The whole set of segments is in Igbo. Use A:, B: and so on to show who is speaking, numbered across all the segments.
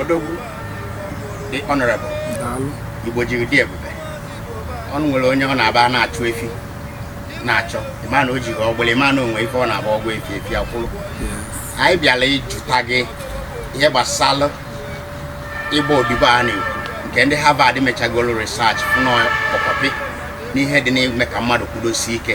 A: odogwu dị honorable igbo jiri dị ebube ọnụ nwere onye ọ na-aba na-achụ efi na-achọ ịma na o jighị ọgbụla ịma na o nwe ife ọ na-abụ ọ gwa efi efi akwụrụ anyị bịara ịjụta gị ihe gbasara ịgba odibo a na-ekwu nke ndị Harvard mechagoro research fụ na ọkpọkọpị n'ihe dị n'ime ka mmadụ kwudosie ike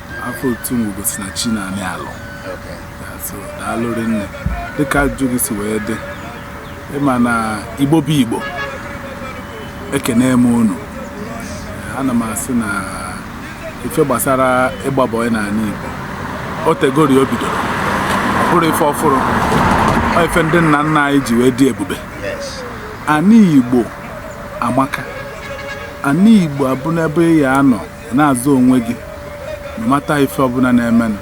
A: afa otu m bụ osinachi na-anyị alụ so daalụ rinne dịka ajụjụ gị si wee dị ịma na igbo bụ igbo ekene m unu ana m asị na ife gbasara ịgba bọị n'ala igbo o tegori o bidoro ọ bụrọ ife ọfụrụ ọ ife ndị nna nna anyị ji wee dị ebube ana igbo amaka ana igbo abụ n'ebe ị ya-anọ na-azụ onwe gị na-amata ife ọbụla na-emenụ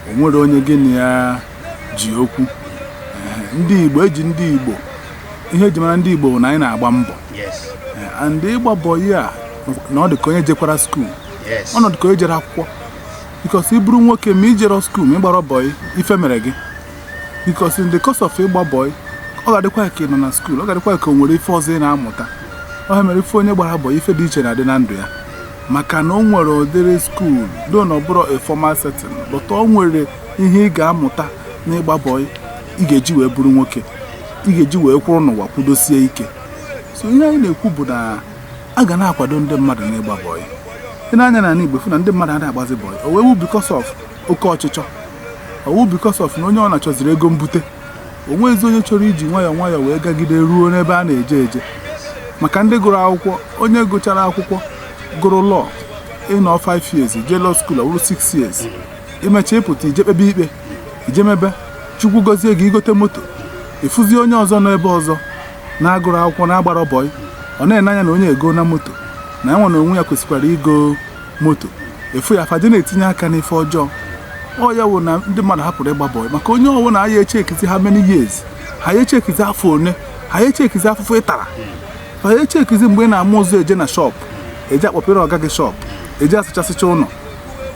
A: o nwerọ onye gị na ya ji okwu Ee, ndị igbo eji ndị igbo ihe eji mara ndị igbo bụ na anyị na-agba mbọ Yes. Ee, and ịgba bọị a na-adị ka onye jekwara skuul Yes. ọ na-adị ka o jere akwụkwọ bikos ị bụrụ nwoke ma ị jerọ skuul ma ị gbarọ bọị ife mere gị bikos in the course of ịgba bọị ọ ga-adịkwa ka ị nọ na skuul ọ ga-adịkwa ka o nwere ife ọzọ ị na-amụta ọ mere ife onye gbara bọị ife dị iche na-adị na ndụ ya maka na o nwere ụdịrị skuul though na ọ bụrọ a formal setting but o nwere ihe ị ga-amụta n'ịgba bọị ị ga-eji wee bụrụ nwoke ị ga-eji wee kwụrụ n'ụwa kwudosie ike so ihe anyị na-ekwu bụ na a ga na-akwado ndị mmadụ n'ịgba bọị ị nee anya n'ani igbo ị fụ na ndị mmadụ adịghị agbazi bọị o wee wu because of oke ọchịchọ ọ wụ because of na onye ọ na-achọziri ego mbute o nweghịzi onye chọrọ iji nwayọọ nwayọọ wee gagide ruo n'ebe a na-eje eje maka ndị gụrụ akwụkwọ onye gụchara akwụkwọ gụrụ law ị nọọ 5 years jee law skuul ọ bụrụ 6 years i mecha ị pụta i je kpebe ikpe i je mebe chukwu gọzie gị i gote moto ị fụzi onye ọzọ nọ ebe ọzọ na-agụrọ akwụkwọ na-agbarọ bọị ọ na-ene anya na onye a egona moto na ya nwa na onwe ya kwesịkwara igo moto ị fụ ya afa dị na-etinye aka n'ife ọjọọ ọ ya wụ na ndị mmadụ hapụrụ ịgba bọị maka onye ọwụna aya echekizi how many years ha ya echekizi afọ one ha ya echekizi afụfụ ị tara ha ya echekizi mgbe ị na-ama ụzọ eje na shọpụ eje akpọpere ọga gị shọpụ eje asụchasịcha ụlọ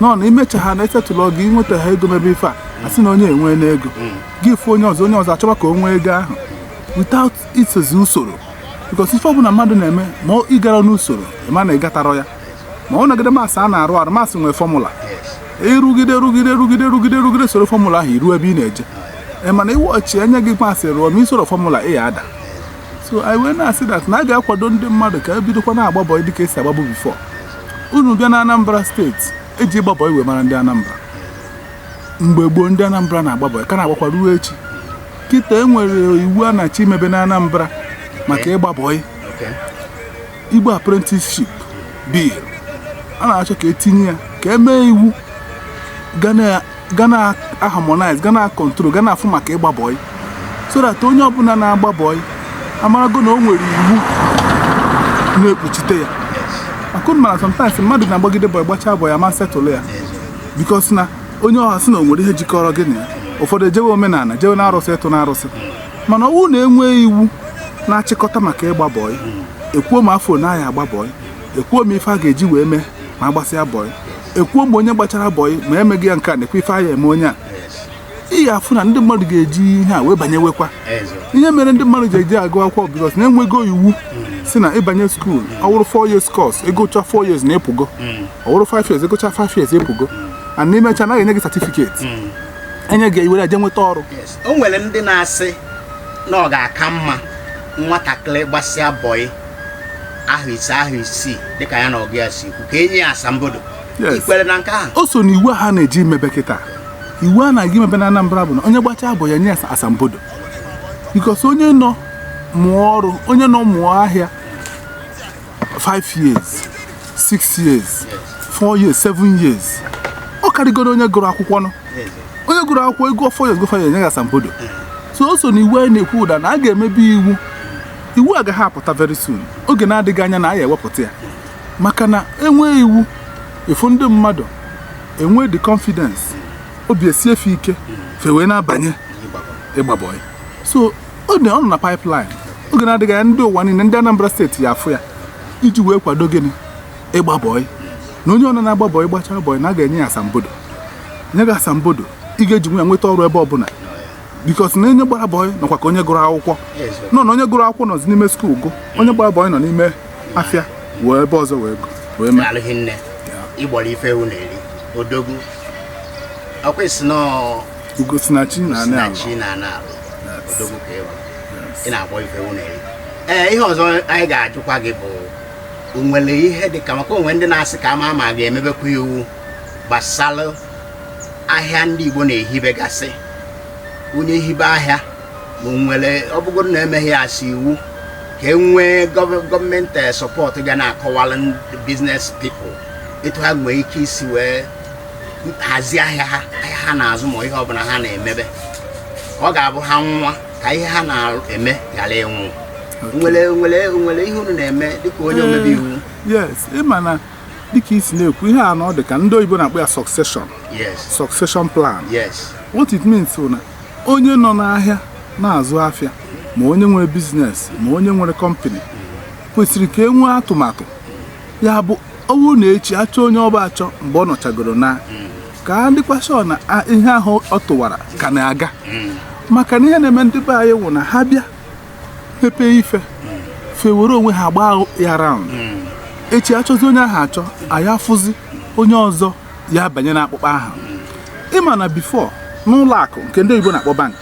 A: nọ na i mecha ha na-esettle gị nweta ha ego mebe ife a asị na onye a enweena ego gị fụ onye ọzọ onye ọzọ achọba ka o nwee ego ahụ without isozi usoro because ife ọbụla mmadụ na-eme ma ọ ị garọ n'usoro ị ma na ị gatarọ ya ma ọ nọgide mas a na-arụ arụ mas nwee fọmụla ịrụgide rụgide rụgide rụgide rụgide soro fọmụla ahụ iruo ebe ị na-eje ị ma na ụbọchị enye gị mas ị rụọ ma isoro fọmụla ị ya-ada so anyị wee na-asị dat na a ga-akwado ndị mmadụ ka ebidokwa na-agba bọị dịka esi agbabu bifọ unu bịa na Anambra steeti eji ịgba bọị wee mara ndị Anambra mgbe gboo ndị Anambra na-agba bọị ka na-agbakwa ruo echi kịta e nwere iwu a na-achọ imebe na Anambra maka ịgba bọị Igbo Apprenticeship Bill a na-achọ ka etinye ya ka emee iwu ga na-harmonize ga na-akọntrol ga na-afụ maka ịgba bọị so that onye ọbụla na-agba bọị amarago na o nwere iwu na-ekpuchite ya ọkwa unu mara sometimes mmadụ na-agbagide bọị gbachaa bọị a ma setụlụ ya bikos na onye ahụ asị na o nwere ihe jikọrọ gị na ya ụfọdụ ejewe omenala jewe na arụsị ịtụ na arụsị mana ọwụrụ na enwee iwu na-achịkọta maka ịgba bọị ekwuo ma afọ one a ya-agba bọị ekwuo ma ife a ga-eji wee mee ma agbasịa bọị ekwuo ma onye gbachara bọị ma emeghị ya nke a nekwe ife a ya-eme onye a ị ga-afụ na ndị mmadụ ga-eji ihe a wee banyewekwa ihe mere ndị mmadụ ji eje agụ akwụkwọ bikos na enwego iwu si na ịbanye skuul ọwụrụ 4 years course ịgụcha 4 years na ịpụgo ọwụrụ 5 years ịgụcha 5 years ịpụgo and n'imechaa na a ya-enye gị satifiketi enye gị iwere ya je nweta ọrụ o nwere ndị na-asị na ọ ga-aka mma nwatakịrị gbasịa bọị ahọ ise ahọ isii dịka ya na ọga ya si kwu ka enye ya asambodo Yes. ikwere na nke ahụ o so na iwu a ha na-eje emebe kịta iwu a na-aga emebe na Anambra bụ na onye gbachaa bọị enye ya asambodo bikos onye nọ mụọ ọrụ onye nọ mụọ ahịa 5 years 6 years 4 years 7 years ọ karịgoro onye gụrụ akwụkwọ nụ onye gụrụ akwụkwọ agụọ 4 years agụọ 5 years enye ya asambodo so o so na iwu anyị na-ekwu dat na a ga-emebe iwu iwu a ga-apụta very soon oge na-adịghị anya na a ya-ewepụta ya maka na enwee iwu ịfụ ndị mmadụ enwee the confidence obi esie fa ike fa ewee na-abanye ịgba bọị so ọ dịnụ na pipeline oge na-adịghị anya ndị ụwa niile ndị Anambra steeti ya-afụ ya iji wee kwado gịnị ịgba bọị na onye ọbụna na-agba bọị gbachaa bọị na a ga-enye ya asambodo nye gị asambodo ị ga-eji wee jee nweta ọrụ ebe ọbụla bikos na onye gbara bọị nọkwa ka onye gụrụ akwụkwọ nụ na onye gụrụ akwụkwọ nọzi n'ime skuul gụọ onye gbara bọị nọ n'ime afịa wee ebe ọzọ wee gụọ wee mee alụghị nne ịgbọrọ ife ewu na-eri odogwu ọkwesị na ugo si na chi na anị ala chi na ana alụ odogwu ka ewu ị na-akpọ ife ewu na-eri ee ihe ọzọ anyị ga-ajụkwa gị bụ o nwere ihe dị ka maka o nwee ndị na-asị ka a ma ma a ga-emebekwa iwu gbasara ahịa ndị Igbo na-ehibegasị onye hibe ahịa ma o nwere ọ bụgoro na emeghị ya as iwu ka e nwee gọv- gọọmenti eh, support ga na-akọwara ndị business people etu ha nwee ike isi wee hazi ahịa ha ahịa ha na-azụ ma ihe ọbụla ha na-emebe ọ ga-abụ ha nwụọ ka ihe ha na-eme ghara ịnwụ nwere nwere nwere ihe unu na-eme dịka onye omebe iwu yes ị ma na dịka i si na-ekwu ihe a na ọ dị ka ndị oyibo na-akpọ ya succession yes succession plan yes what it means bụ na onye nọ n'ahịa na-azụ afịa ma onye nwere business ma onye nwere kọmpani kwesịrị ka e nwee atụmatụ ya bụ ọ wụ na echi achọ onye ọ bụ achọ mgbe ọ nọchagoro na ka a dịkwasị ọ na a- ihe ahụ ọ tụwara ka na-aga maka na ihe na-eme ndị be anyị wụ na ha bịa mepee ife fa ewere onwe ha gbaa ya round echi achọzi onye ahụ achọ anyị afụzi onye ọzọ ya-abanye n'akpụkpọ ahụ ị ma na before n'ụlọ akụ nke ndị oyibo na-akpọ bank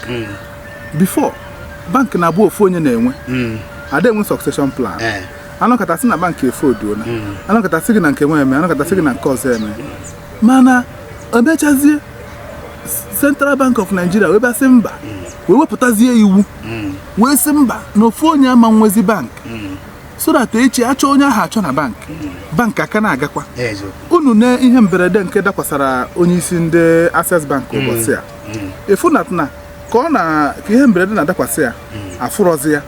A: before bank na-abụ ofu onye na-enwe ada enwe succession plan Eh. anọkata asị na bank efolduola hmm. anọkata asị gị na nke nwa emee anọkata asị gị na nke ọzọ emee mana emechazie Central Bank of Nigeria wee bịa sị mba wee wepụtazie iwu hmm. wee sị mba na ofu onye ama nwezi bank hmm. so that echi achọ onye ahụ achọ na bank bank a ka na-agakwa unu na ihe mberede nke dakwasara onye isi ndị Access Bank ụbọchị a ị fụ na ka ọ na ka ihe mberede na-adakwasị ya afụrọzi ya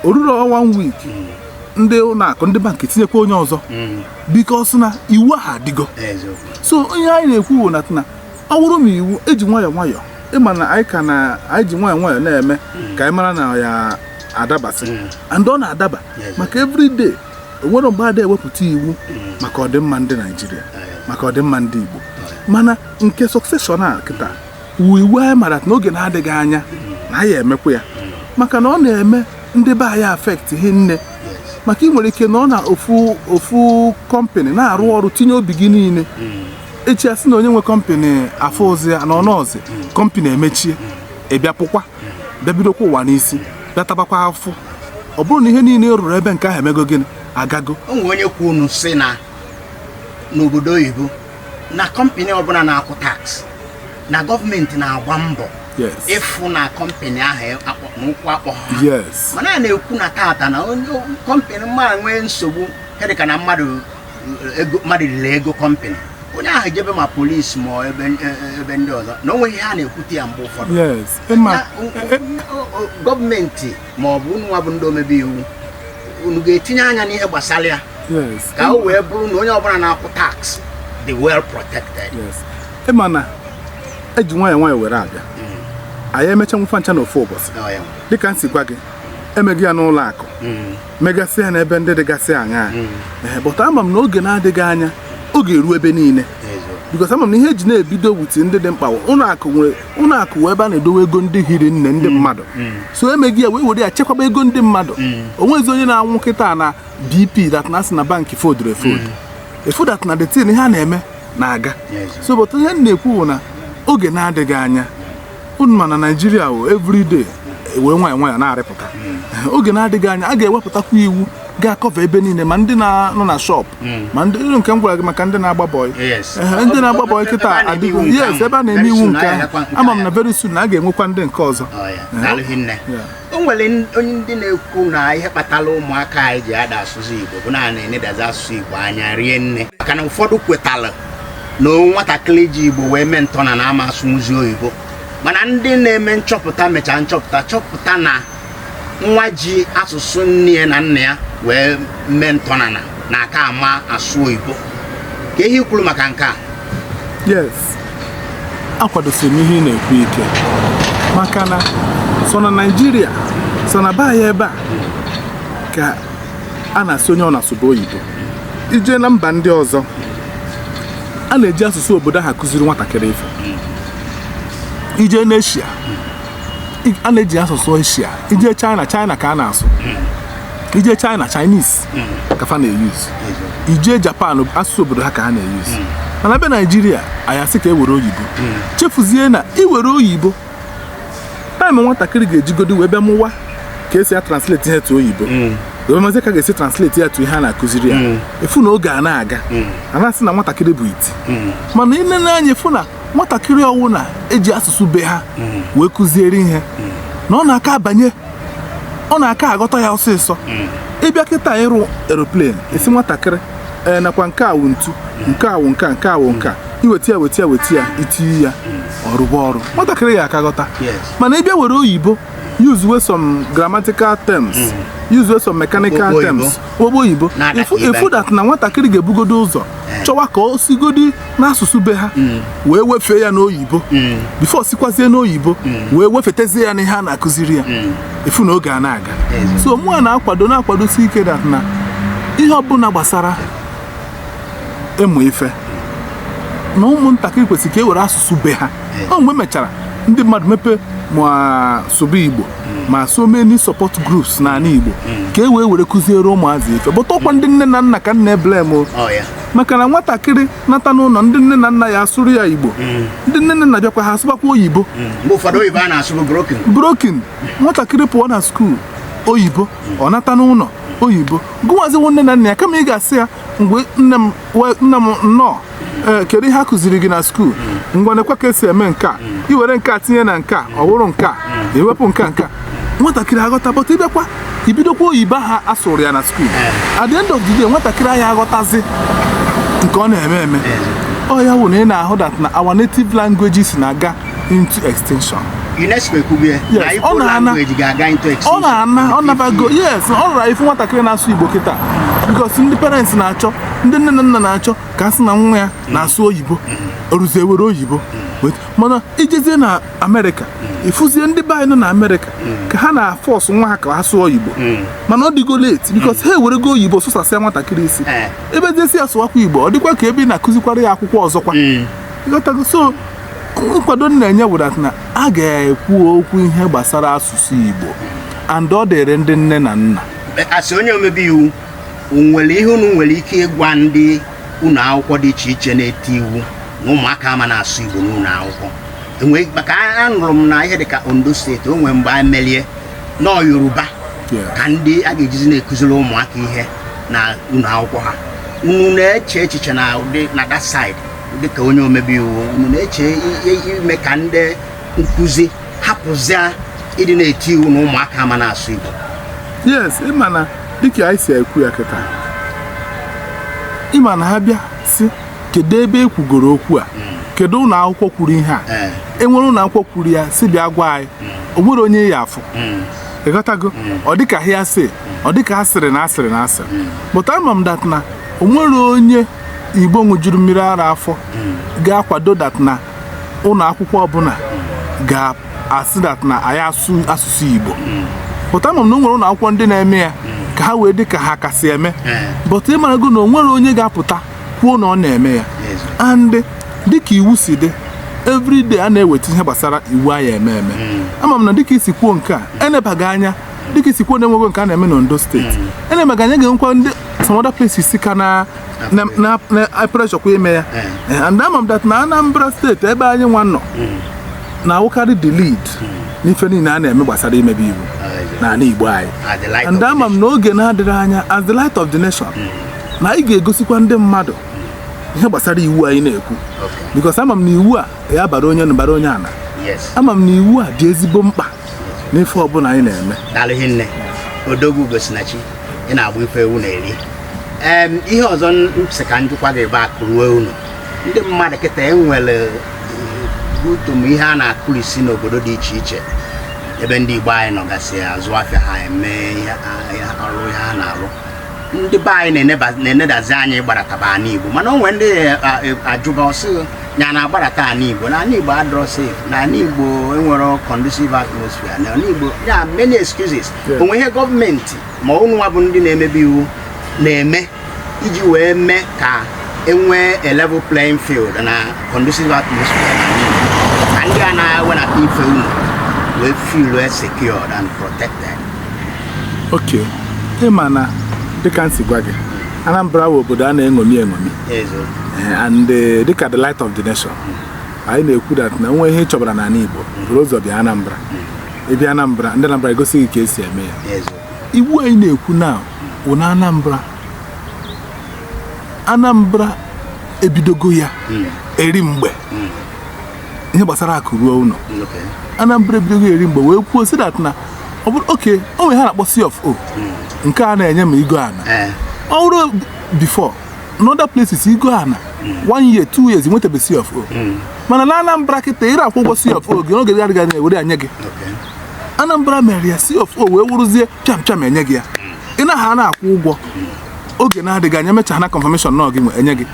A: o rurọ one week ndị ụlọ akụ ndị bank etinyekwa onye ọzọ mm. because na iwu ahụ adịgo so ihe anyị na-ekwu bụ na ọ bụrụ ma iwu eji nwayọọ nwayọọ ị ma na anyị ka na anyị ji nwayọọ nwayọọ na-eme mm. ka anyị mara na ọ ya-adabasị mm. and ọ na-adaba maka everyday o nwerọ mgbe ada ewepụta iwu maka ọdịmma ndị Naịjirịa maka ọdịmma ndị Igbo mana nke succession a kịta wụ iwu anyị mara n'oge na-adịghị anya na anyị emekwu ya maka na ọ na-eme ndị be anyị affect hie nne maka ị nwere ike nọ na ofu ofu kọmpanị na-arụ ọrụ tinye obi gị niile echi asị na onye nwe kọmpanị afụzi ya na ọ nọzi kọmpanị emechie ị bịa pụkwa bịa bidokwa ụwa n'isi bịa tabakwa afụfụ ọ bụrụ na ihe niile ị rụrụ ebe nke ahụ emego gịnị agago o nwere onye kwuru sị na n'obodo oyibo na kọmpani ọbụla na-akwụ tax na gọọmenti na-agba mbọ ịfụ na kọmpani ahụ e, na ụkwụ akpọ ha mana a na-ekwu na tata na kọmpani mmadụ nwee nsogbu dịka na mmadụ riri ego kọmpani onye ahụ jebe ma polisi ma e, ebe ndị ọzọ na o nweghị ihe a na-ekwute ya mgbe ụfọdụ e, gọọmenti ma ọ bụ unu nwa bụ ndị omebe iwu unu ga-etinye anya n'ihe gbasara ya ka o wee bụrụ na onye ọbụla na-akwụ tax dị well protected ịma na eji nwayọ nwayọ were abịa hmm. anyị emechanwu fa ncha na ofu ụbọsị oh, dịka m si gwa gị emego ya n'ụlọ akụ hmm. megasị ya n'ebe ndị dịgasị anya hmm. but ama m na oge na-adịghị anya oge eruo ebe niile because ama m na ihe eji na-ebido with ndị dị mkpa ụlọ akụ nwere ụlọ akụ wụ ebe a na-edowe ego ndị hiri nne ndị mmadụ so emego ya wee were ya chekwaba ego ndị mmadụ onwezi onye na-anwụ kịta na bp that na asị na bankị fodụrụ efodu ịfụ that na the thing ihe a na-eme na-aga Yes. so but ihe m na-ekwu bụ na oge na-adịghị anya unu ma na naijiria o everyday were nwayọ nwayọ na-arịpụta oge na-adịghị anya a ga-ewepụtakwa iwu ga-akọva ebe niile ma ndị na-anọ na shop hmm. ma ndị nke m gwara gị maka ndị na-agba bọị ndị na-agba bọị kịta adịgo yes ebe a na-eme iwu nke ahụ ama m na very soon na a ga-enwekwa ndị nke ọzọ o nwere ndị na-ekwu na ihe kpatara ụmụaka anyị ji ada asụ Igbo bụ na a na-enedazi asụsụ Igbo anya rie nne maka na ụfọdụ kwetara na nwatakịrị ji Igbo wee mee ntọana na ọ ma asụnwuzi oyibo mana ndị na-eme nchọpụta mechaa nchọpụta chọpụta na nwa ji asụsụ nne ya na nna ya wee mee ntọana na-aka ama asụ oyibo ka ihe i kwuru maka nke a yes akwadosiri m ihe ị na-ekwu ike maka na sọ na naijiria sọ na be anyị ebe a ka a na-asị onye ọbụna sụba oyibo ije na mba ndị ọzọ a na-eji asụsụ obodo ha kụziri nwatakịrị ife ije n'eshia I- a na-eji asụsụ eshia ije china china ka a na-asụ ije china chinese ka fa na-eyuz ije japan asụsụ obodo ha ka ha na-eyuz mana be naijiria anyị asị ka e were oyibo chefuzie na iwere oyibo time nwatakịrị ga-ejigodi wee bịa mụwa ka esi atransleti ihe to oyibo wee mazi ka a ga-esi transleti ya to ihe a na-akụziri ya ịfụ na oge a na-aga a na-asị na nwatakịrị bụ iti mana i lee anya ịfụ na nwatakịrị ọwụ na eji asụsụ be ha mm. wee kụziere ihe mm. na ọ na-aka abanye ọ na-aka aghọta ya ọsịsọ mm. ịbịa kịta ịrụ eroplane ị sị nwatakịrị ee nakwa nke a wụ ntu nke a wụ nke a nke a wụ nke a iweta ya weta ya weta ya itinye ya ọrụba ọrụ nwatakịrị ya aka aghọta mana ịbịa were oyibo usewe some grammatical terms mm. usewe some mechanical terms ogbo oyibo ịfụ that na nwatakịrị ga-ebugodi ụzọ eh. chọwa ka o sigodi n'asụsụ be ha mm. wee wefee ya n'oyibo mm. bifo sikwazie n'oyibo mm. wee wefetezie ya n'ihe a na-akụziri ya ị fụ na oge a na-aga so mụwa na-akwado na-akwadosi ike dat na ihe ọbụla gbasara ịmụ ife na ụmụntakịrị kwesịrị ka e were asụsụ be ha ọ ihe mechara ndị mmadụ mepee ma sụba igbo ma so many support groups n'ala igbo ka e wee were kụziere ụmụazị ife bọta ọkwa ndị nne na nna ka m na-eblem maka na nwatakịrị nata n'ụlọ ndị nne na nna ya asụrụ ya igbo mm. ndị nne na nna bịakwa ha asụbakwa oyibo mm. brokin nwatakịrị pụọ na skuul oyibo ọ nata n'ụlọ oyibo gụwaziwo nne na nna ya kama ị ga-asị ya mgbe nne m nnọọ eh, kedu ihe a kụziri gị na skuul mm. ngwa nekwa ka e si eme nke a i were nke a tinye na nke a ọ bụrụ nke a i wepụ nke a nke a nwatakịrị aghọta bọta ị bịakwa i bidokwa oyibo ha asụrụ ya na skuul eh. at the end of the day nwatakịrị anaghị aghọtazi nke ọ na-eme eme eh. ọ ya wụ na ị na-ahụ dat na our native languages na-aga into extinction UNESCO ekwubie na Igbo language ga-aga into extinction ọ na-ana ọ nabago yes ọ rara ịfụ nwatakịrị na-asụ Igbo kịta because ndị parents na-achọ ndị nne na nna na-achọ ka a sị na nwa ya na-asụ oyibo o ruzie were oyibo mana i jezie na amerịka ị fụzie ndị be anyị nọ na amerịka ka ha na-afọsụ nwa ha ka ha sụọ oyibo mana ọ dịgo late because ha ewerego oyibo sụsasịa nwatakịrị isi Eh. ị bịazie sị ya sụwakwa igbo ọ dịkwa ka ebe ị na-akụzikwara ya akwụkwọ ọzọkwa Ịghọtago? so nkwado m na-enye bụ that na a ga-ekwu okwu ihe gbasara asụsụ igbo and ọ dịrị ndị nne na nna as onye omebe iwu o nwere ihe unu nwere ike ịgwa ndị ụlọ akwụkwọ dị iche iche na-eti iwu na ụmụaka ama na-asụ Igbo n'ụlọ akwụkwọ enwee maka anụrụ m na ihe dịka Ondo steeti o nwere mgbe a melie na ọ Yoruba ka ndị a ga-ejizi na-ekụziri ụmụaka ihe na ụlọ akwụkwọ ha unu na-eche echiche na ụdị na that side dịka onye omebe iwu unu na-eche ime ka ndị nkụzi hapụzia ịdị na-eti iwu na ụmụaka ama na-asụ Igbo yes ị ma na dịka anyị si ekwu ya kịta ị ma na a bịa sị kedu ebe e kwugoro okwu a hmm. kedu ụlọ akwụkwọ kwuru ihe a eh. e nwere ụlọ akwụkwọ kwuru ya si bịa gwa anyị hmm. o nwere onye ị ya-afụ hmm. ịghọtago ọ dịka hearsay ọ dịka a sịrị na a sịrị na a sịrị bọta ama m dat na o nwere onye igbo ṅụjuru mmiri ara afọ ga-akwado dat na ụlọ akwụkwọ ọbụla ga-asị dat na anaghị asụ asụsụ Igbo bọta ama m na o nwere ụlọ akwụkwọ ndị na-eme ya ka ha wee dị ka ha kasị eme bọta ị marago na o nwere onye ga-apụta kwuo na ọ na-eme ya and dịka iwu si dị everyday a na-eweta ihe gbasara iwu anyị eme eme ama m na dịka i si kwuo nke a e neba ya anya dịka i si kwuo na e nwego nke a na-eme n'Ondo steeti e neba ya anya ga-enwekwa ndị some other places ka na preshọkwa ime ya eh. and ama m that na Anambra State ebe anyị nwa nọ hmm. na-awụkarị the lead hmm. n'ife niile a na-eme gbasara imebe iwu ah, n'ala Igbo anyị ah, and ama m na oge na-adịghị anya as the light of the nation hmm. na anyị ga-egosikwa ndị mmadụ ihe gbasara iwu anyị na-ekwu because ama m na iwu a ya bara onye enu bara onye ana ama m na iwu a dị ezigbo mkpa n'ife ọbụla anyị na-eme daalụ rinne odogwu Ugosinachi ị na-agba ife ewu na-eri ihe ọzọ m sị ka m jụkwa gị bụ akụ ruo ụnọ ndị mmadụ kịta enwere utom ihe a na-akụrisi n'obodo dị iche iche ebe ndị Igbo anyị nọgasị azụ afịa ha eme ọrụ ihe ha na-alụ ndị be anyị na-enedazi anya ịgbarataba ana Igbo mana o nwere ndị a jụba ọ sị ya na-agbarata ala igbo na ala igbo adịrọ safe na ala igbo enwerọ conducive atmosphere na ala igbo ya many excuses o nwe ihe gọọmenti ma unu nwa bụ ndị na-emebe iwu na-eme iji wee mee ka enwee a level playing field na conducive atmosphere na ndị a na-ewenata ife ụnọ wee feel secured and protected. okay ị ma na dịka m si gwa gị Anambra bụ obodo a na-eṅomi eṅomi eh, and eh, dịka the light of the nation anyị na-ekwu that na o nwe ihe ị chọbara n'ala Igbo bụrụ ụzọ bịa Anambra ebe Anambra ndị Anambra egosi gị ka esi eme ya iwu anyị na-ekwu na wụ na Anambra Anambra ebidogo ya hmm. eri mgbe hmm. ihe gbasara akụ ruo ụlọ Anambra ebidogo eri mgbe wee kwuo sị that na ọ bụrụ okay o nwere ihe a na-akpọ C of O hmm. nke a na-enye ma i goo ana eh. ọ bụrụ before n'other places i goo ana one year two years i nwetabe C of O hmm. mana na Anambra kịta ị na-akwụ ụgwọ C of O gị n'oge adịghị anya e were ya nye gị Anambra mere ya C of O wee wụrụzie pịam pịam enye gị ya hmm. ị na ha na-akwụ ụgwọ hmm. oge na-adịghị anya mecha na confirmation na gị enye gị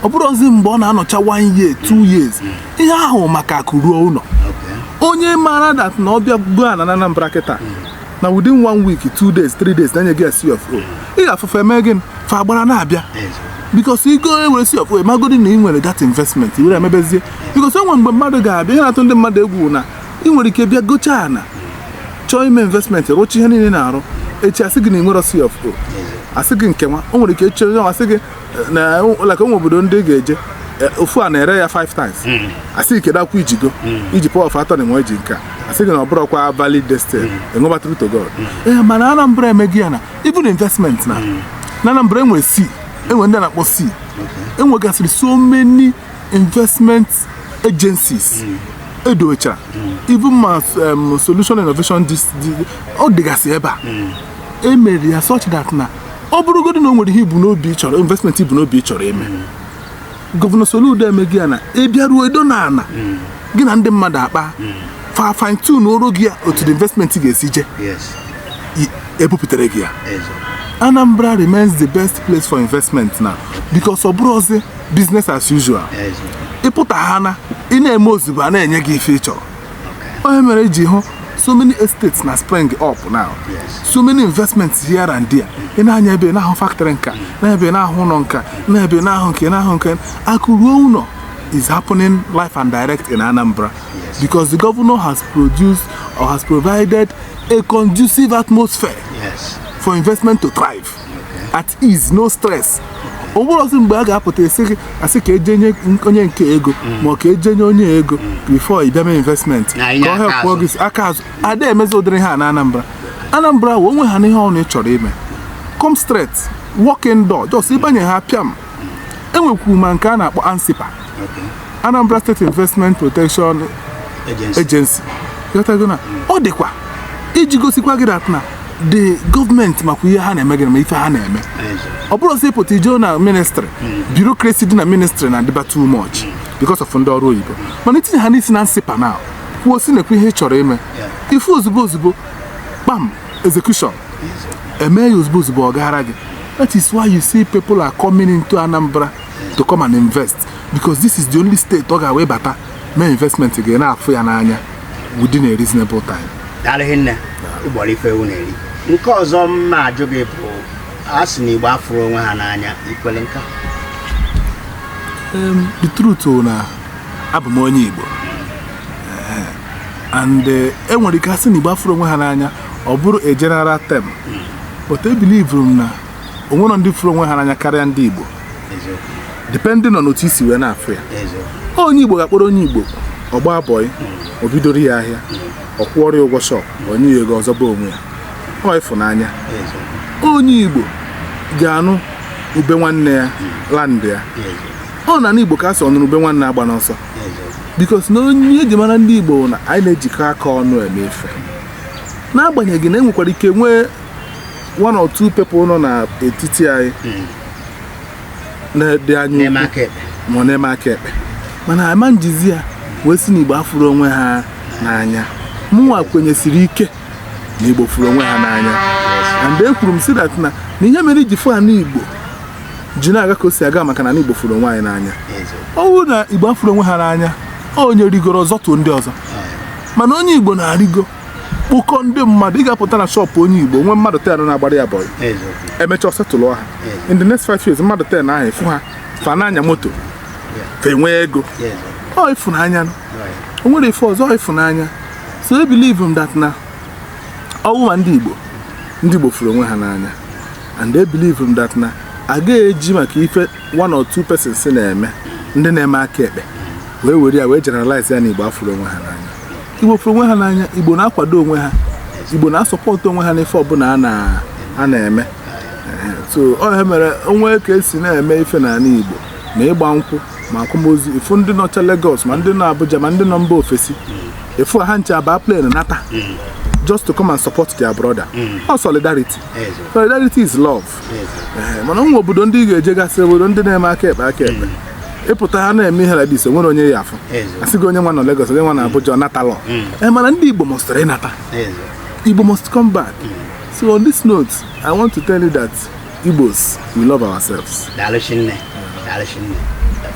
A: ọ bụrọzi mgbe ọ na-anọcha one year two years ihe ahụ maka akụ ruo ụlọ onye maara that na ọ bịa bịa goo ana na Anambra kịta na within one week two days three days na-enye gị C of O ị ga-afụ ife eme gị fa agbara na-abịa because i goo were C of O magodi na ị nwere that investment were emebezie because enwe mgbe mmadụ ga-abịa ihe na-atụ ndị mmadụ egwu na ị nwere ike bịa gochaa ana chọọ ime investment rụcha ihe niile na-arụ echi asị gị na ị nwerọ C of O asị gị nke nwa o nwere ike chọọ asị gị na like o nwe obodo ndị ị ga-eje eh, ofu ana ere ya 5 times hmm. asị gị kedụkwa i jigo hmm. i ji power of attorney i ji nke a asị gị na ọ bụrọkwa valid this thing hmm. enweba true to god ee eh, mana anambra emego ya na even investment na na anambra enwe si enwe ndị na-akpọ si enwegasịrị so many investment agencies edochara even ma um, solution innovation ọ dịgasị ebe a emere ya such that na ọ bụrụgodị na o nwere ihe i bu n'obi ị chọrọ investment i bu n'obi ị chọrọ ime gọvanọ Soludo emego ya na ị bịaruo edo na ala gị na ndị mmadụ akpaa fa fine tune-uoro gị ya otu the investment ga-esi je yes i- e bupụtara gị ya eze Anambra remains the best place for investment now because ọ bụrọzi business as usual eze ị pụta ha na ị na-eme ozugbo a na-enye gị ife ị chọrọ ọ ihe mere i ji hụ so many estates na spring up now so many investments here and there ị na-anya ebe na-ahụ factory nka n'ebe a na-ahụ ụlọ nka n'ebe a na-ahụ nke na-ahụ nke akụ ruo ụlọ is happening live and direct in Anambra because the governor has produced or has provided a conducive atmosphere for investment to thrive. at ease no stress o nwerọzi mgbe a ga-apụta sị gị a sị ka e je nye onye nke a ego mm. ma ọ ka e je nye onye ego before ị bịa mee investment ka ọ hepụọ gị aka azụ ada emezi ụdịrị ihe a na Anambra Anambra nwere onwe ha n'ihe ọbụna ị chọrọ ime come straight walk in door just ị banye ha pịam e nwekwuru ma nke a na-akpọ ANSIPPA Anambra State Investment Protection Agency ghọtago na ọ dịkwa iji gosikwa gị that na the gọọmenti makwa ihe ha na-eme gị na ma ife ha na-eme ọ bụrọ sị pụta i jee na ministrị bureaucracy dị na ministrị na-adịba too much because of ndị ọrụ oyibo mana i tinye ha n'isi na ANSIPPA na kwuo sị nekwa ihe ị chọrọ ime ife ozugbo ozugbo kpam execution e mee ya ozugbo ozugbo ọ gaara gị that is why you see people are coming into Anambra to come and invest because this is the only state ọ ga-wee bata mee investment gị ana-afụ ya n'anya within a reasonable time daalụ rinne i gburu ife ewu na-eri nke ọzọ m na-ajụ gị bụ a sị na igbo afụrọ onwe ha n'anya i kwelu nka Um, the truth bụ na abụ m onye Igbo Eh, and eh, e nwere ike a sị na Igbo afụrọ onwe ha n'anya ọ bụrụ a general term but ebilivurọ m na o nwere ndị fụrụ onwe ha n'anya karịa ndị Igbo depending on otu i si wee na-afụ ya onye Igbo ga-akpọrọ onye Igbo ọ gbaa bọị o bidoro ya ahịa ọ kwụọrọ ya ụgwọ shọp o nye ya ego ọ zọba onwe ya ọ ịfụnanya onye Igbo ga-anụ ube nwanne ya land ya ọ na Igbo ka a sị ọnụrụ ube nwanne agbana ọsọ because na ọ ihe e ji mara ndị Igbo na anyị na-ejikọ aka ọnụ eme ife n'agbanyeghị na e nwekwara ike nwee one or two people nọ n'etiti anyị hmm. ndị anyị ma na-eme aka ekpe mana ama m ejizi ya wee sị na igbo afụrọ onwe ha n'anya mụnwa kwenyesiri ike na igbo fụrụ onwe ha n'anya and ekwuru m sị that na na ihe mere i ji fụ ya na igbo ji na-aga ka o si aga maka na igbo fụrụ onwe anyị n'anya ọ bụrụ na igbo afụrọ onwe ha n'anya onye rigoro ọ zọtuo ndị ọzọ mana onye igbo na-arịgo kpọkọ ndị mmadụ ị ga-apụta na shop onye igbo nwee mmadụ ten na-agbara ya bọyị e mechaa ọ setụlụ ha in the next five years mmadụ ten ahụ ị fụ ha fa na-anya moto fa enwee ego ọ ịfụnanya o nwere ife ọzọ ịfụnanya so e believe m that na ọ wụ ma ndị igbo ndị igbo fụrụ onwe ha n'anya and e believe m that na a ga-eji maka ife one or two persons na-eme ndị na-eme aka ekpe wee were ya wee generalize ya na igbo afụrọ onwe ha n'anya igbo fụrụ onwe ha n'anya igbo na-akwado onwe ha igbo na-asọpọtụ onwe ha n'ife ọbụla a na- a na-eme Ehe, so ọ ihe mere o nwee ka e si na-eme ife n'ala igbo ma ịgba nkwụ ma akwamozu ị fụ ndị nọcha Lagos ma ndị nọ Abuja ma ndị nọ mba ofesi ị fụ ha ncha abaa plane nata just to come and support their brother ọ solidarity solidarity is love Ee, mana e nwee obodo ndị ị ga-ejegasị obodo ndị na-eme aka ekpe aka ekpe ị pụta ha na-eme ihe like this e nwerọ onye ị ya-afụ Ezo. a sị gị onye nwa nọ Lagos onye nwa nọ Abuja ọ natalọ ee mana ndị Igbo must rịrị nata Igbo must come back so on this note I want to tell you that Igbos we love ourselves daalụ shinne daalụ shinne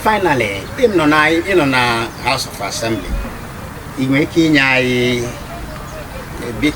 A: finally ị nọ na ị nọ na house of assembly ị nwere ike inye anyị a bit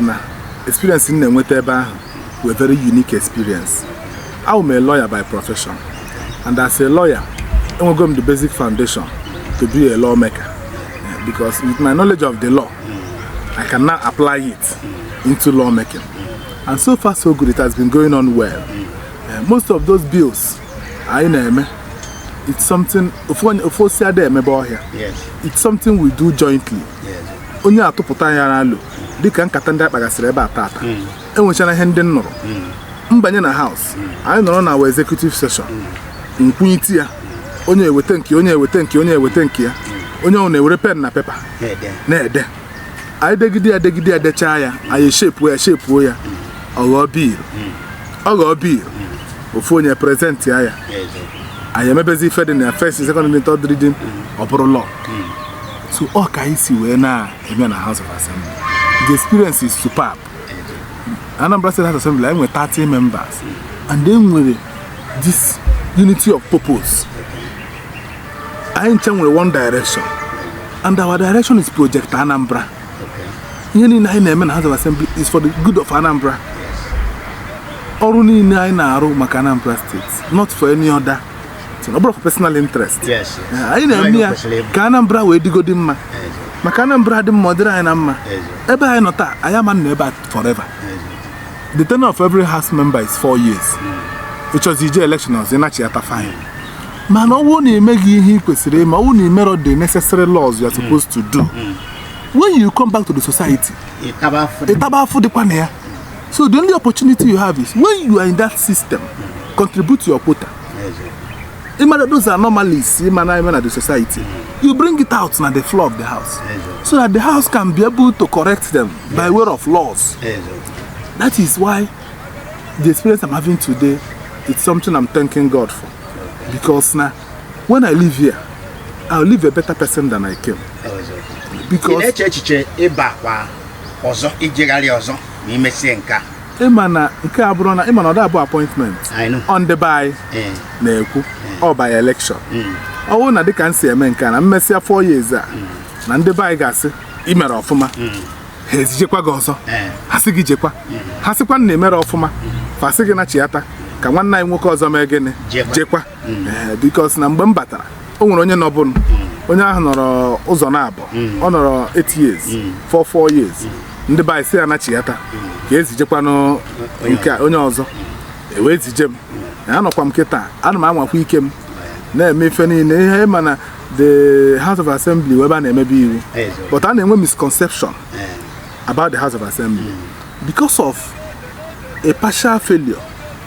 A: na experience m na-enweta ebe ahụ were very unique experience awụ m a lawyer by profession and as a lawyer enwego m the basic foundation to be a lawmaker eh, because with my knowledge of the law I can now apply it into lawmaking and so far so good it has been going on well eh, most of those bills anyị na-eme it's something ofu onye- ofu osisi ada emebe ọhịa yes it's something we do jointly yes onye atụpụta ya n'alo dịka nkata ndị a kpagasịrị ebe a tata hmm. e nwechara ihe ndị m nụrụ hmm. m banye na house hmm. anyị nọrọ na our executive session m kwunite ya onye eweta nke onye eweta nke onye eweta nke ya onye ọbụna ewere pen na pepa na-ede anyị degide ya degide ya dechaa ya anyị shepuo ya shepuo ya ọ ghọọ bill ọ ghọọ bill ofu onye epresentie ya anyị emebezi ife dị na ya first second reading third reading ọ bụrụ law so ọ ka anyị si wee na-eme na House of Assembly the experience is superb Anambra State House of Assembly anyị nwere 30 members and e nwere this unity of purpose anyị ncha nwere one direction and our direction is project Anambra ihe niile anyị na-eme na House of Assembly is for the good of Anambra ọrụ niile anyị na-arụ maka Anambra State not for any other ọ bụrọ personal interest anyị na-eme ya ka Anambra wee dịgodi mma maka Anambra dị mma ọ dịrị anyị na mma ebe anyị nọ taa anyị ama nọ ebe a forever the tenure of every house member is four years hmm. ị chọzie ije election ọzọ ị nachiyata fine mana ọ wụ na i meghị ihe ị kwesịrị ime ọ wụ na i merọ the necessary laws you are supposed to do hmm. when you come back to the society ị taba afụfụ dịkwa na ya so the only opportunity you have is when you are in that system contribute your quota ịmara those are normalists ịma na ime na the society you bring it out na the floor of the house so that the house can be able to correct them by way of laws that is why the experience i'm having today is something i'm thanking god for because na when i live here i'll live a better person than i came ị because na-eche echiche ịba kwa ọzọ ijegharị ọzọ ma imesie nke a ịma na nke a bụrọ na ịma na ọ da-abụ appointment I know. ọ ndị be anyị Eh, na-ekwu ọ by election mm, ọ bụrụ na dịka m si eme nke a na m mesịa four years a na ndị be anyị ga-asị imere ọfụma mm, ha ezijekwa gị ọzọ eh, ha sị gị jekwa ha sịkwa na i merọ ọfụma fa sị gị nachiata ka nwanne anyị nwoke ọzọ mee gịnị Jekwa. jekwa Eh, because na mgbe m batara o nwere onye nọbụnụ onye ahụ nọrọ ụzọ naabọ ọ nọrọ 8 years 4 4 years ndị be anyị sị ya nachiyata ka ezijekwanụ nke a, onye ọzọ e wee zije m anọkwa m kịta ana m anwakwa ike m na-eme ife niile ihe ịma na the house of assembly wụ ebe a na-emebe iwu Eziokwu. but a na-enwe misconception about the house of assembly because of a partial failure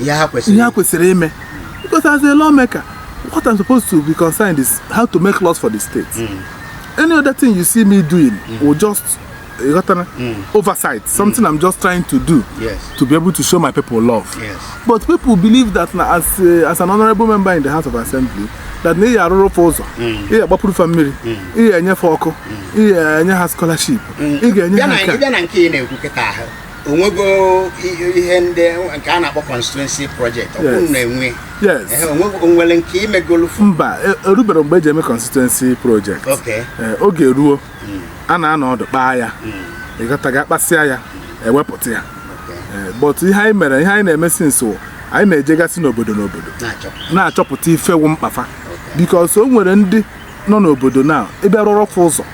A: ihe ha kwesịrị ihe ha kwesịrị ime because as a lawmaker what I'm supposed to be concerned is how to make laws for the state mm. any other thing you see me doing mm. will just ịghọtara eh, mm. oversight mm. something mm. I'm just trying to do yes. to be able to show my people love yes. but people believe that na as, uh, as an honorable member in the House of Assembly that na ị arụrụ fa ụzọ mm. ị agbapụrụ fa mmiri mm. ị enye fa ọkụ ị enye ha scholarship ị ga-enye ha nke a onwego ihe ndị nke a na-akpọ constituency project ọkwụrụ na-enwe o nwere nke imegolu mba e, eruberọ mgbe eji eme constituency project e, oge ruo hmm. a na-anọ ọdụ kpaa ya hmm. ịgataga kpasịa ya hmm. ewepụta ya e, but ihe anyị mere ihe anyị na-eme since anyị na-ejegasị n'obodo n'obodo na-achọpụta ife wụ mkpa fa because o nwere ndị nọ n'obodo na ị bịa rụọrọ fa ụzọ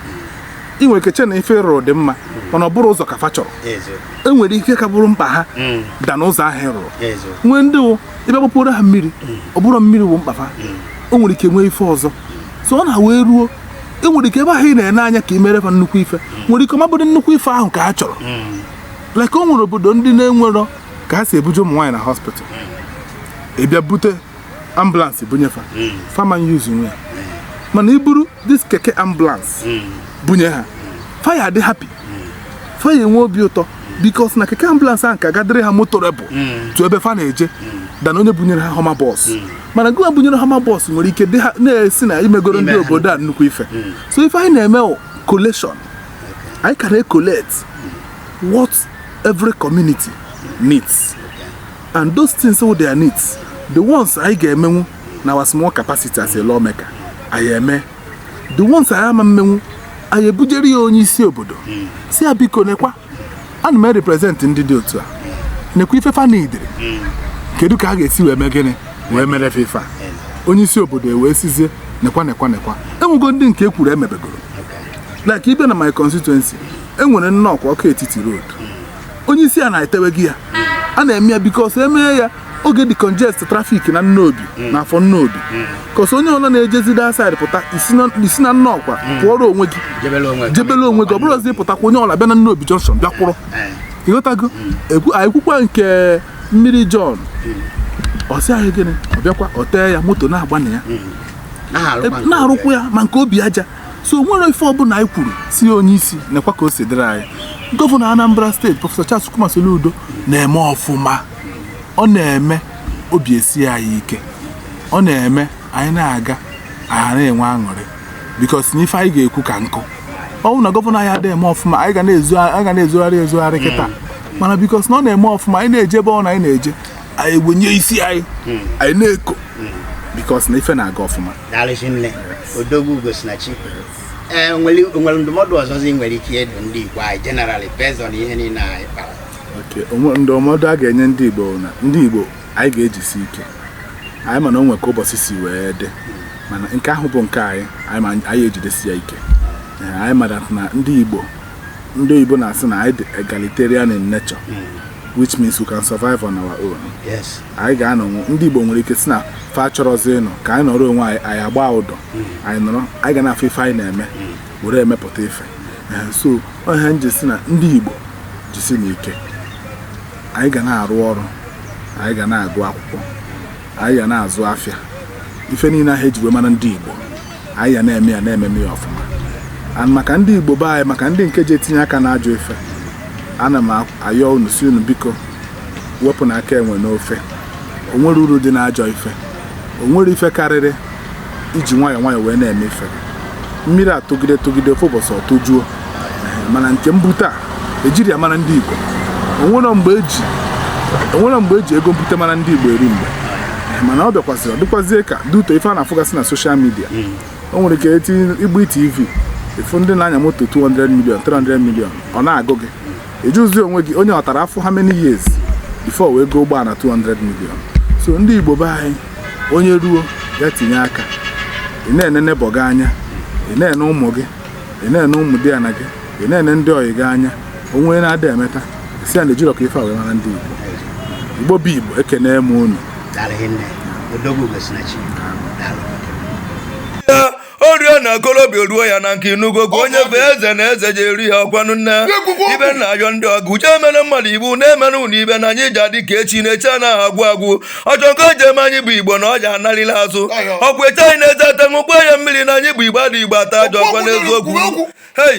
A: ị nwere ike che na ife ị rụrụ dị mma mana ọ bụrọ ụzọ ka fa chọrọ e nwere ife ka bụrụ mkpa ha mm. than ụzọ ahụ ị rụrụ nwee ndị wụ ịbịa gbapụrụ ha mmiri mm. ọ bụrọ mmiri wụ mkpa fa mm. o nwere ike nwee ife ọzọ so ọ na wee ruo e nwere ike ebe ahụ ị na-ene anya ka ị mere fa nnukwu ife nwere ike ọ ma-abụdị nnukwu ife ahụ ka ha chọrọ like o nwere obodo ndị na-enwerọ ka ha si ebuje ụmụ nwaanyị na hospital ị bịa bute ambulance bunye fa mm. fa ama usenwu e mana i buru this keke ambulance mm. bunye ha fa ya-adị happy fa ya-enwe obi ụtọ because na keke ambulance ahụ ka ga-adịrị ha motorable to ebe fa na-eje than onye bunyere ha Hummer bus mana gịwa bunyere Hummer bus nwere ike dị ha na-asị na imegoro ndị obodo a nnukwu ife so ife anyị na-eme collation anyị ka na-ecollect what every community needs and those things wụ their needs the ones anyị ga-emenwu na our small capacity as a lawmaker anyị eme the ones anyị ama emenwu anyị ebujere ya onye isi obodo sị ya biko nekwa ana m represent ndị dị otu a nekwa ife fa needịrị kedu ka a ga-esi wee mee gịnị wee mere fa ife a onye isi obodo e wee sizie nekwa nekwa nekwa enwego ndị nke ekwuru emebegoro like ị bịa na my constituency enwere Nnọkwa Awka-Etiti road onye isi a na-eteweghị ya a na-eme ya bikos emee ya ọ ga-decongest trafik na nnobi na afọ nnobi kọs onye ọla na-ejezi that side pụta i si na- i si na nnọkwa pụọrọ onwe gị jebele onwe gị. jebele onwe gị ọ bụrọ ọzọ ịpụtakwa onye ọla bịa na nnobi junction bịa kwụrụ Eh, ị ghọtago Ekwu- anyị kwukwa nke mmiri john ọ sị anyị gịnị ọ bịakwa ọ tee ya moto na-agba na ya na-arụkwa nke na-arụkwa ya ma nke obi aja so nwere ife ọbụla anyị kwuru sị onye isi nekwa ka o si dịrị anyị gọvanọ Anambra steeti prọfesọ Charles Chukwuma Soludo na-eme ọfụma ọ na-eme obi esi anyị ike ọ na-eme anyị na-aga anyị na-enwe aṅụrị bikos na ife anyị ga-ekwu ka nkụ ọnwụ na gọvanọ anyị adịghị eme ọfụma anyị ga na-ezogharị ezogharị kịta mana bikos na ọ na-eme ọfụma anyị na-eje ebe ọ na anyị na-eje anyị wenye isi anyị hmm. anyị na-eko hmm. bikos na ife na-aga ọfụma daalụ shinne odogwu Ugosinachi e, nwere ndụmọdụ ọzọzi nwere ike ịdụ ndị igbo anyị generally based on ihe niile anyị kpara ndụmọdụ a ga-enye ndị igbo na ndị igbo anyị ga-ejisi ike anyị mana o nwe ka ụbọsị si wee dị hmm. mana nke ahụ bụ nke anyị anyị ejidesi ya ike anyị mara na ndị igbo ndị oyibo na-asị na anyị dị egalitarian in nature which means we can survive on our own yes anyị ga-anọ nwe- ndị igbo nwere ike sị na fa chọrọzi ịnọ ka anyị nọrọ onwe anyị anyị agba ụdọ anyị nọrọ anyị ga na-afụ ife anyị na-eme were emepụta ife Eh, so ọ ya m ji sị na ndị igbo jisinụ ike anyị ga na-arụ ọrụ anyị ga na-agụ akwụkwọ anyị ga na-azụ afịa ife niile ahụ eji wee mara ndị igbo anyị ya na-eme ya na-ememe ya ọfụma and maka ndị igbo be anyị maka ndị nke ji etinye aka n'ajọ ife ana m ayọ unu sị unu biko wepụnụ aka enwe n'ofe o nwerọ uru dị n'ajọ ife o nwerọ ife karịrị iji nwayọọ nwayọọ wee na-eme ife mmiri atụgide tụgide ofu ụbọsị ọ tụjuo mana nke mbute a ejirọ ya mara ndị Igbo o nwerọ mgbe e ji o nwerọ mgbe e ji ego mbute mara ndị Igbo eri mgbe mana ọ bịakwazịrị ọ dịkwazie ka due to ife a na-afụgasị na soshal midia hmm. o nwere ike eti igbu tv ị fụ ndị na-anya moto 200 million 300 million ọ na-agụ gị ị jụzị onwe gị onye ọ tara afụfụ how many years before wee goo ụgbọala 200 million so ndị Igbo be anyị onye ruo ya tinye aka ị na-enene be ọga anya ị na-ene ụmụ gị ị na-ene ụmụ di ya na gị ị na-ene ndị ọyị gị anya onye na-adị emeta sị ya na ejirọ ka ife a wee mara ndị Igbo Igbo bụ Igbo ekenee m unu o rie na okorobịa o ruo ya na nka ị nụgo gwa onye bụ eze na eze ji eri ya ọkwanụ nne ibe na ayọ ndị ọgụ uche emere mmadụ ibu na-emere ụlọ ibe na anyị ja-adị ka echi na echi anaghị agwụ agwụ ọchọkọ njem anyị bụ igbo na ọja analila azụ ọkwa eche anyị na-eze ete ṅụkwa ya mmiri na anyị bụ igbo ndị igbo ata ajọ ọkwa n'eziokwu hei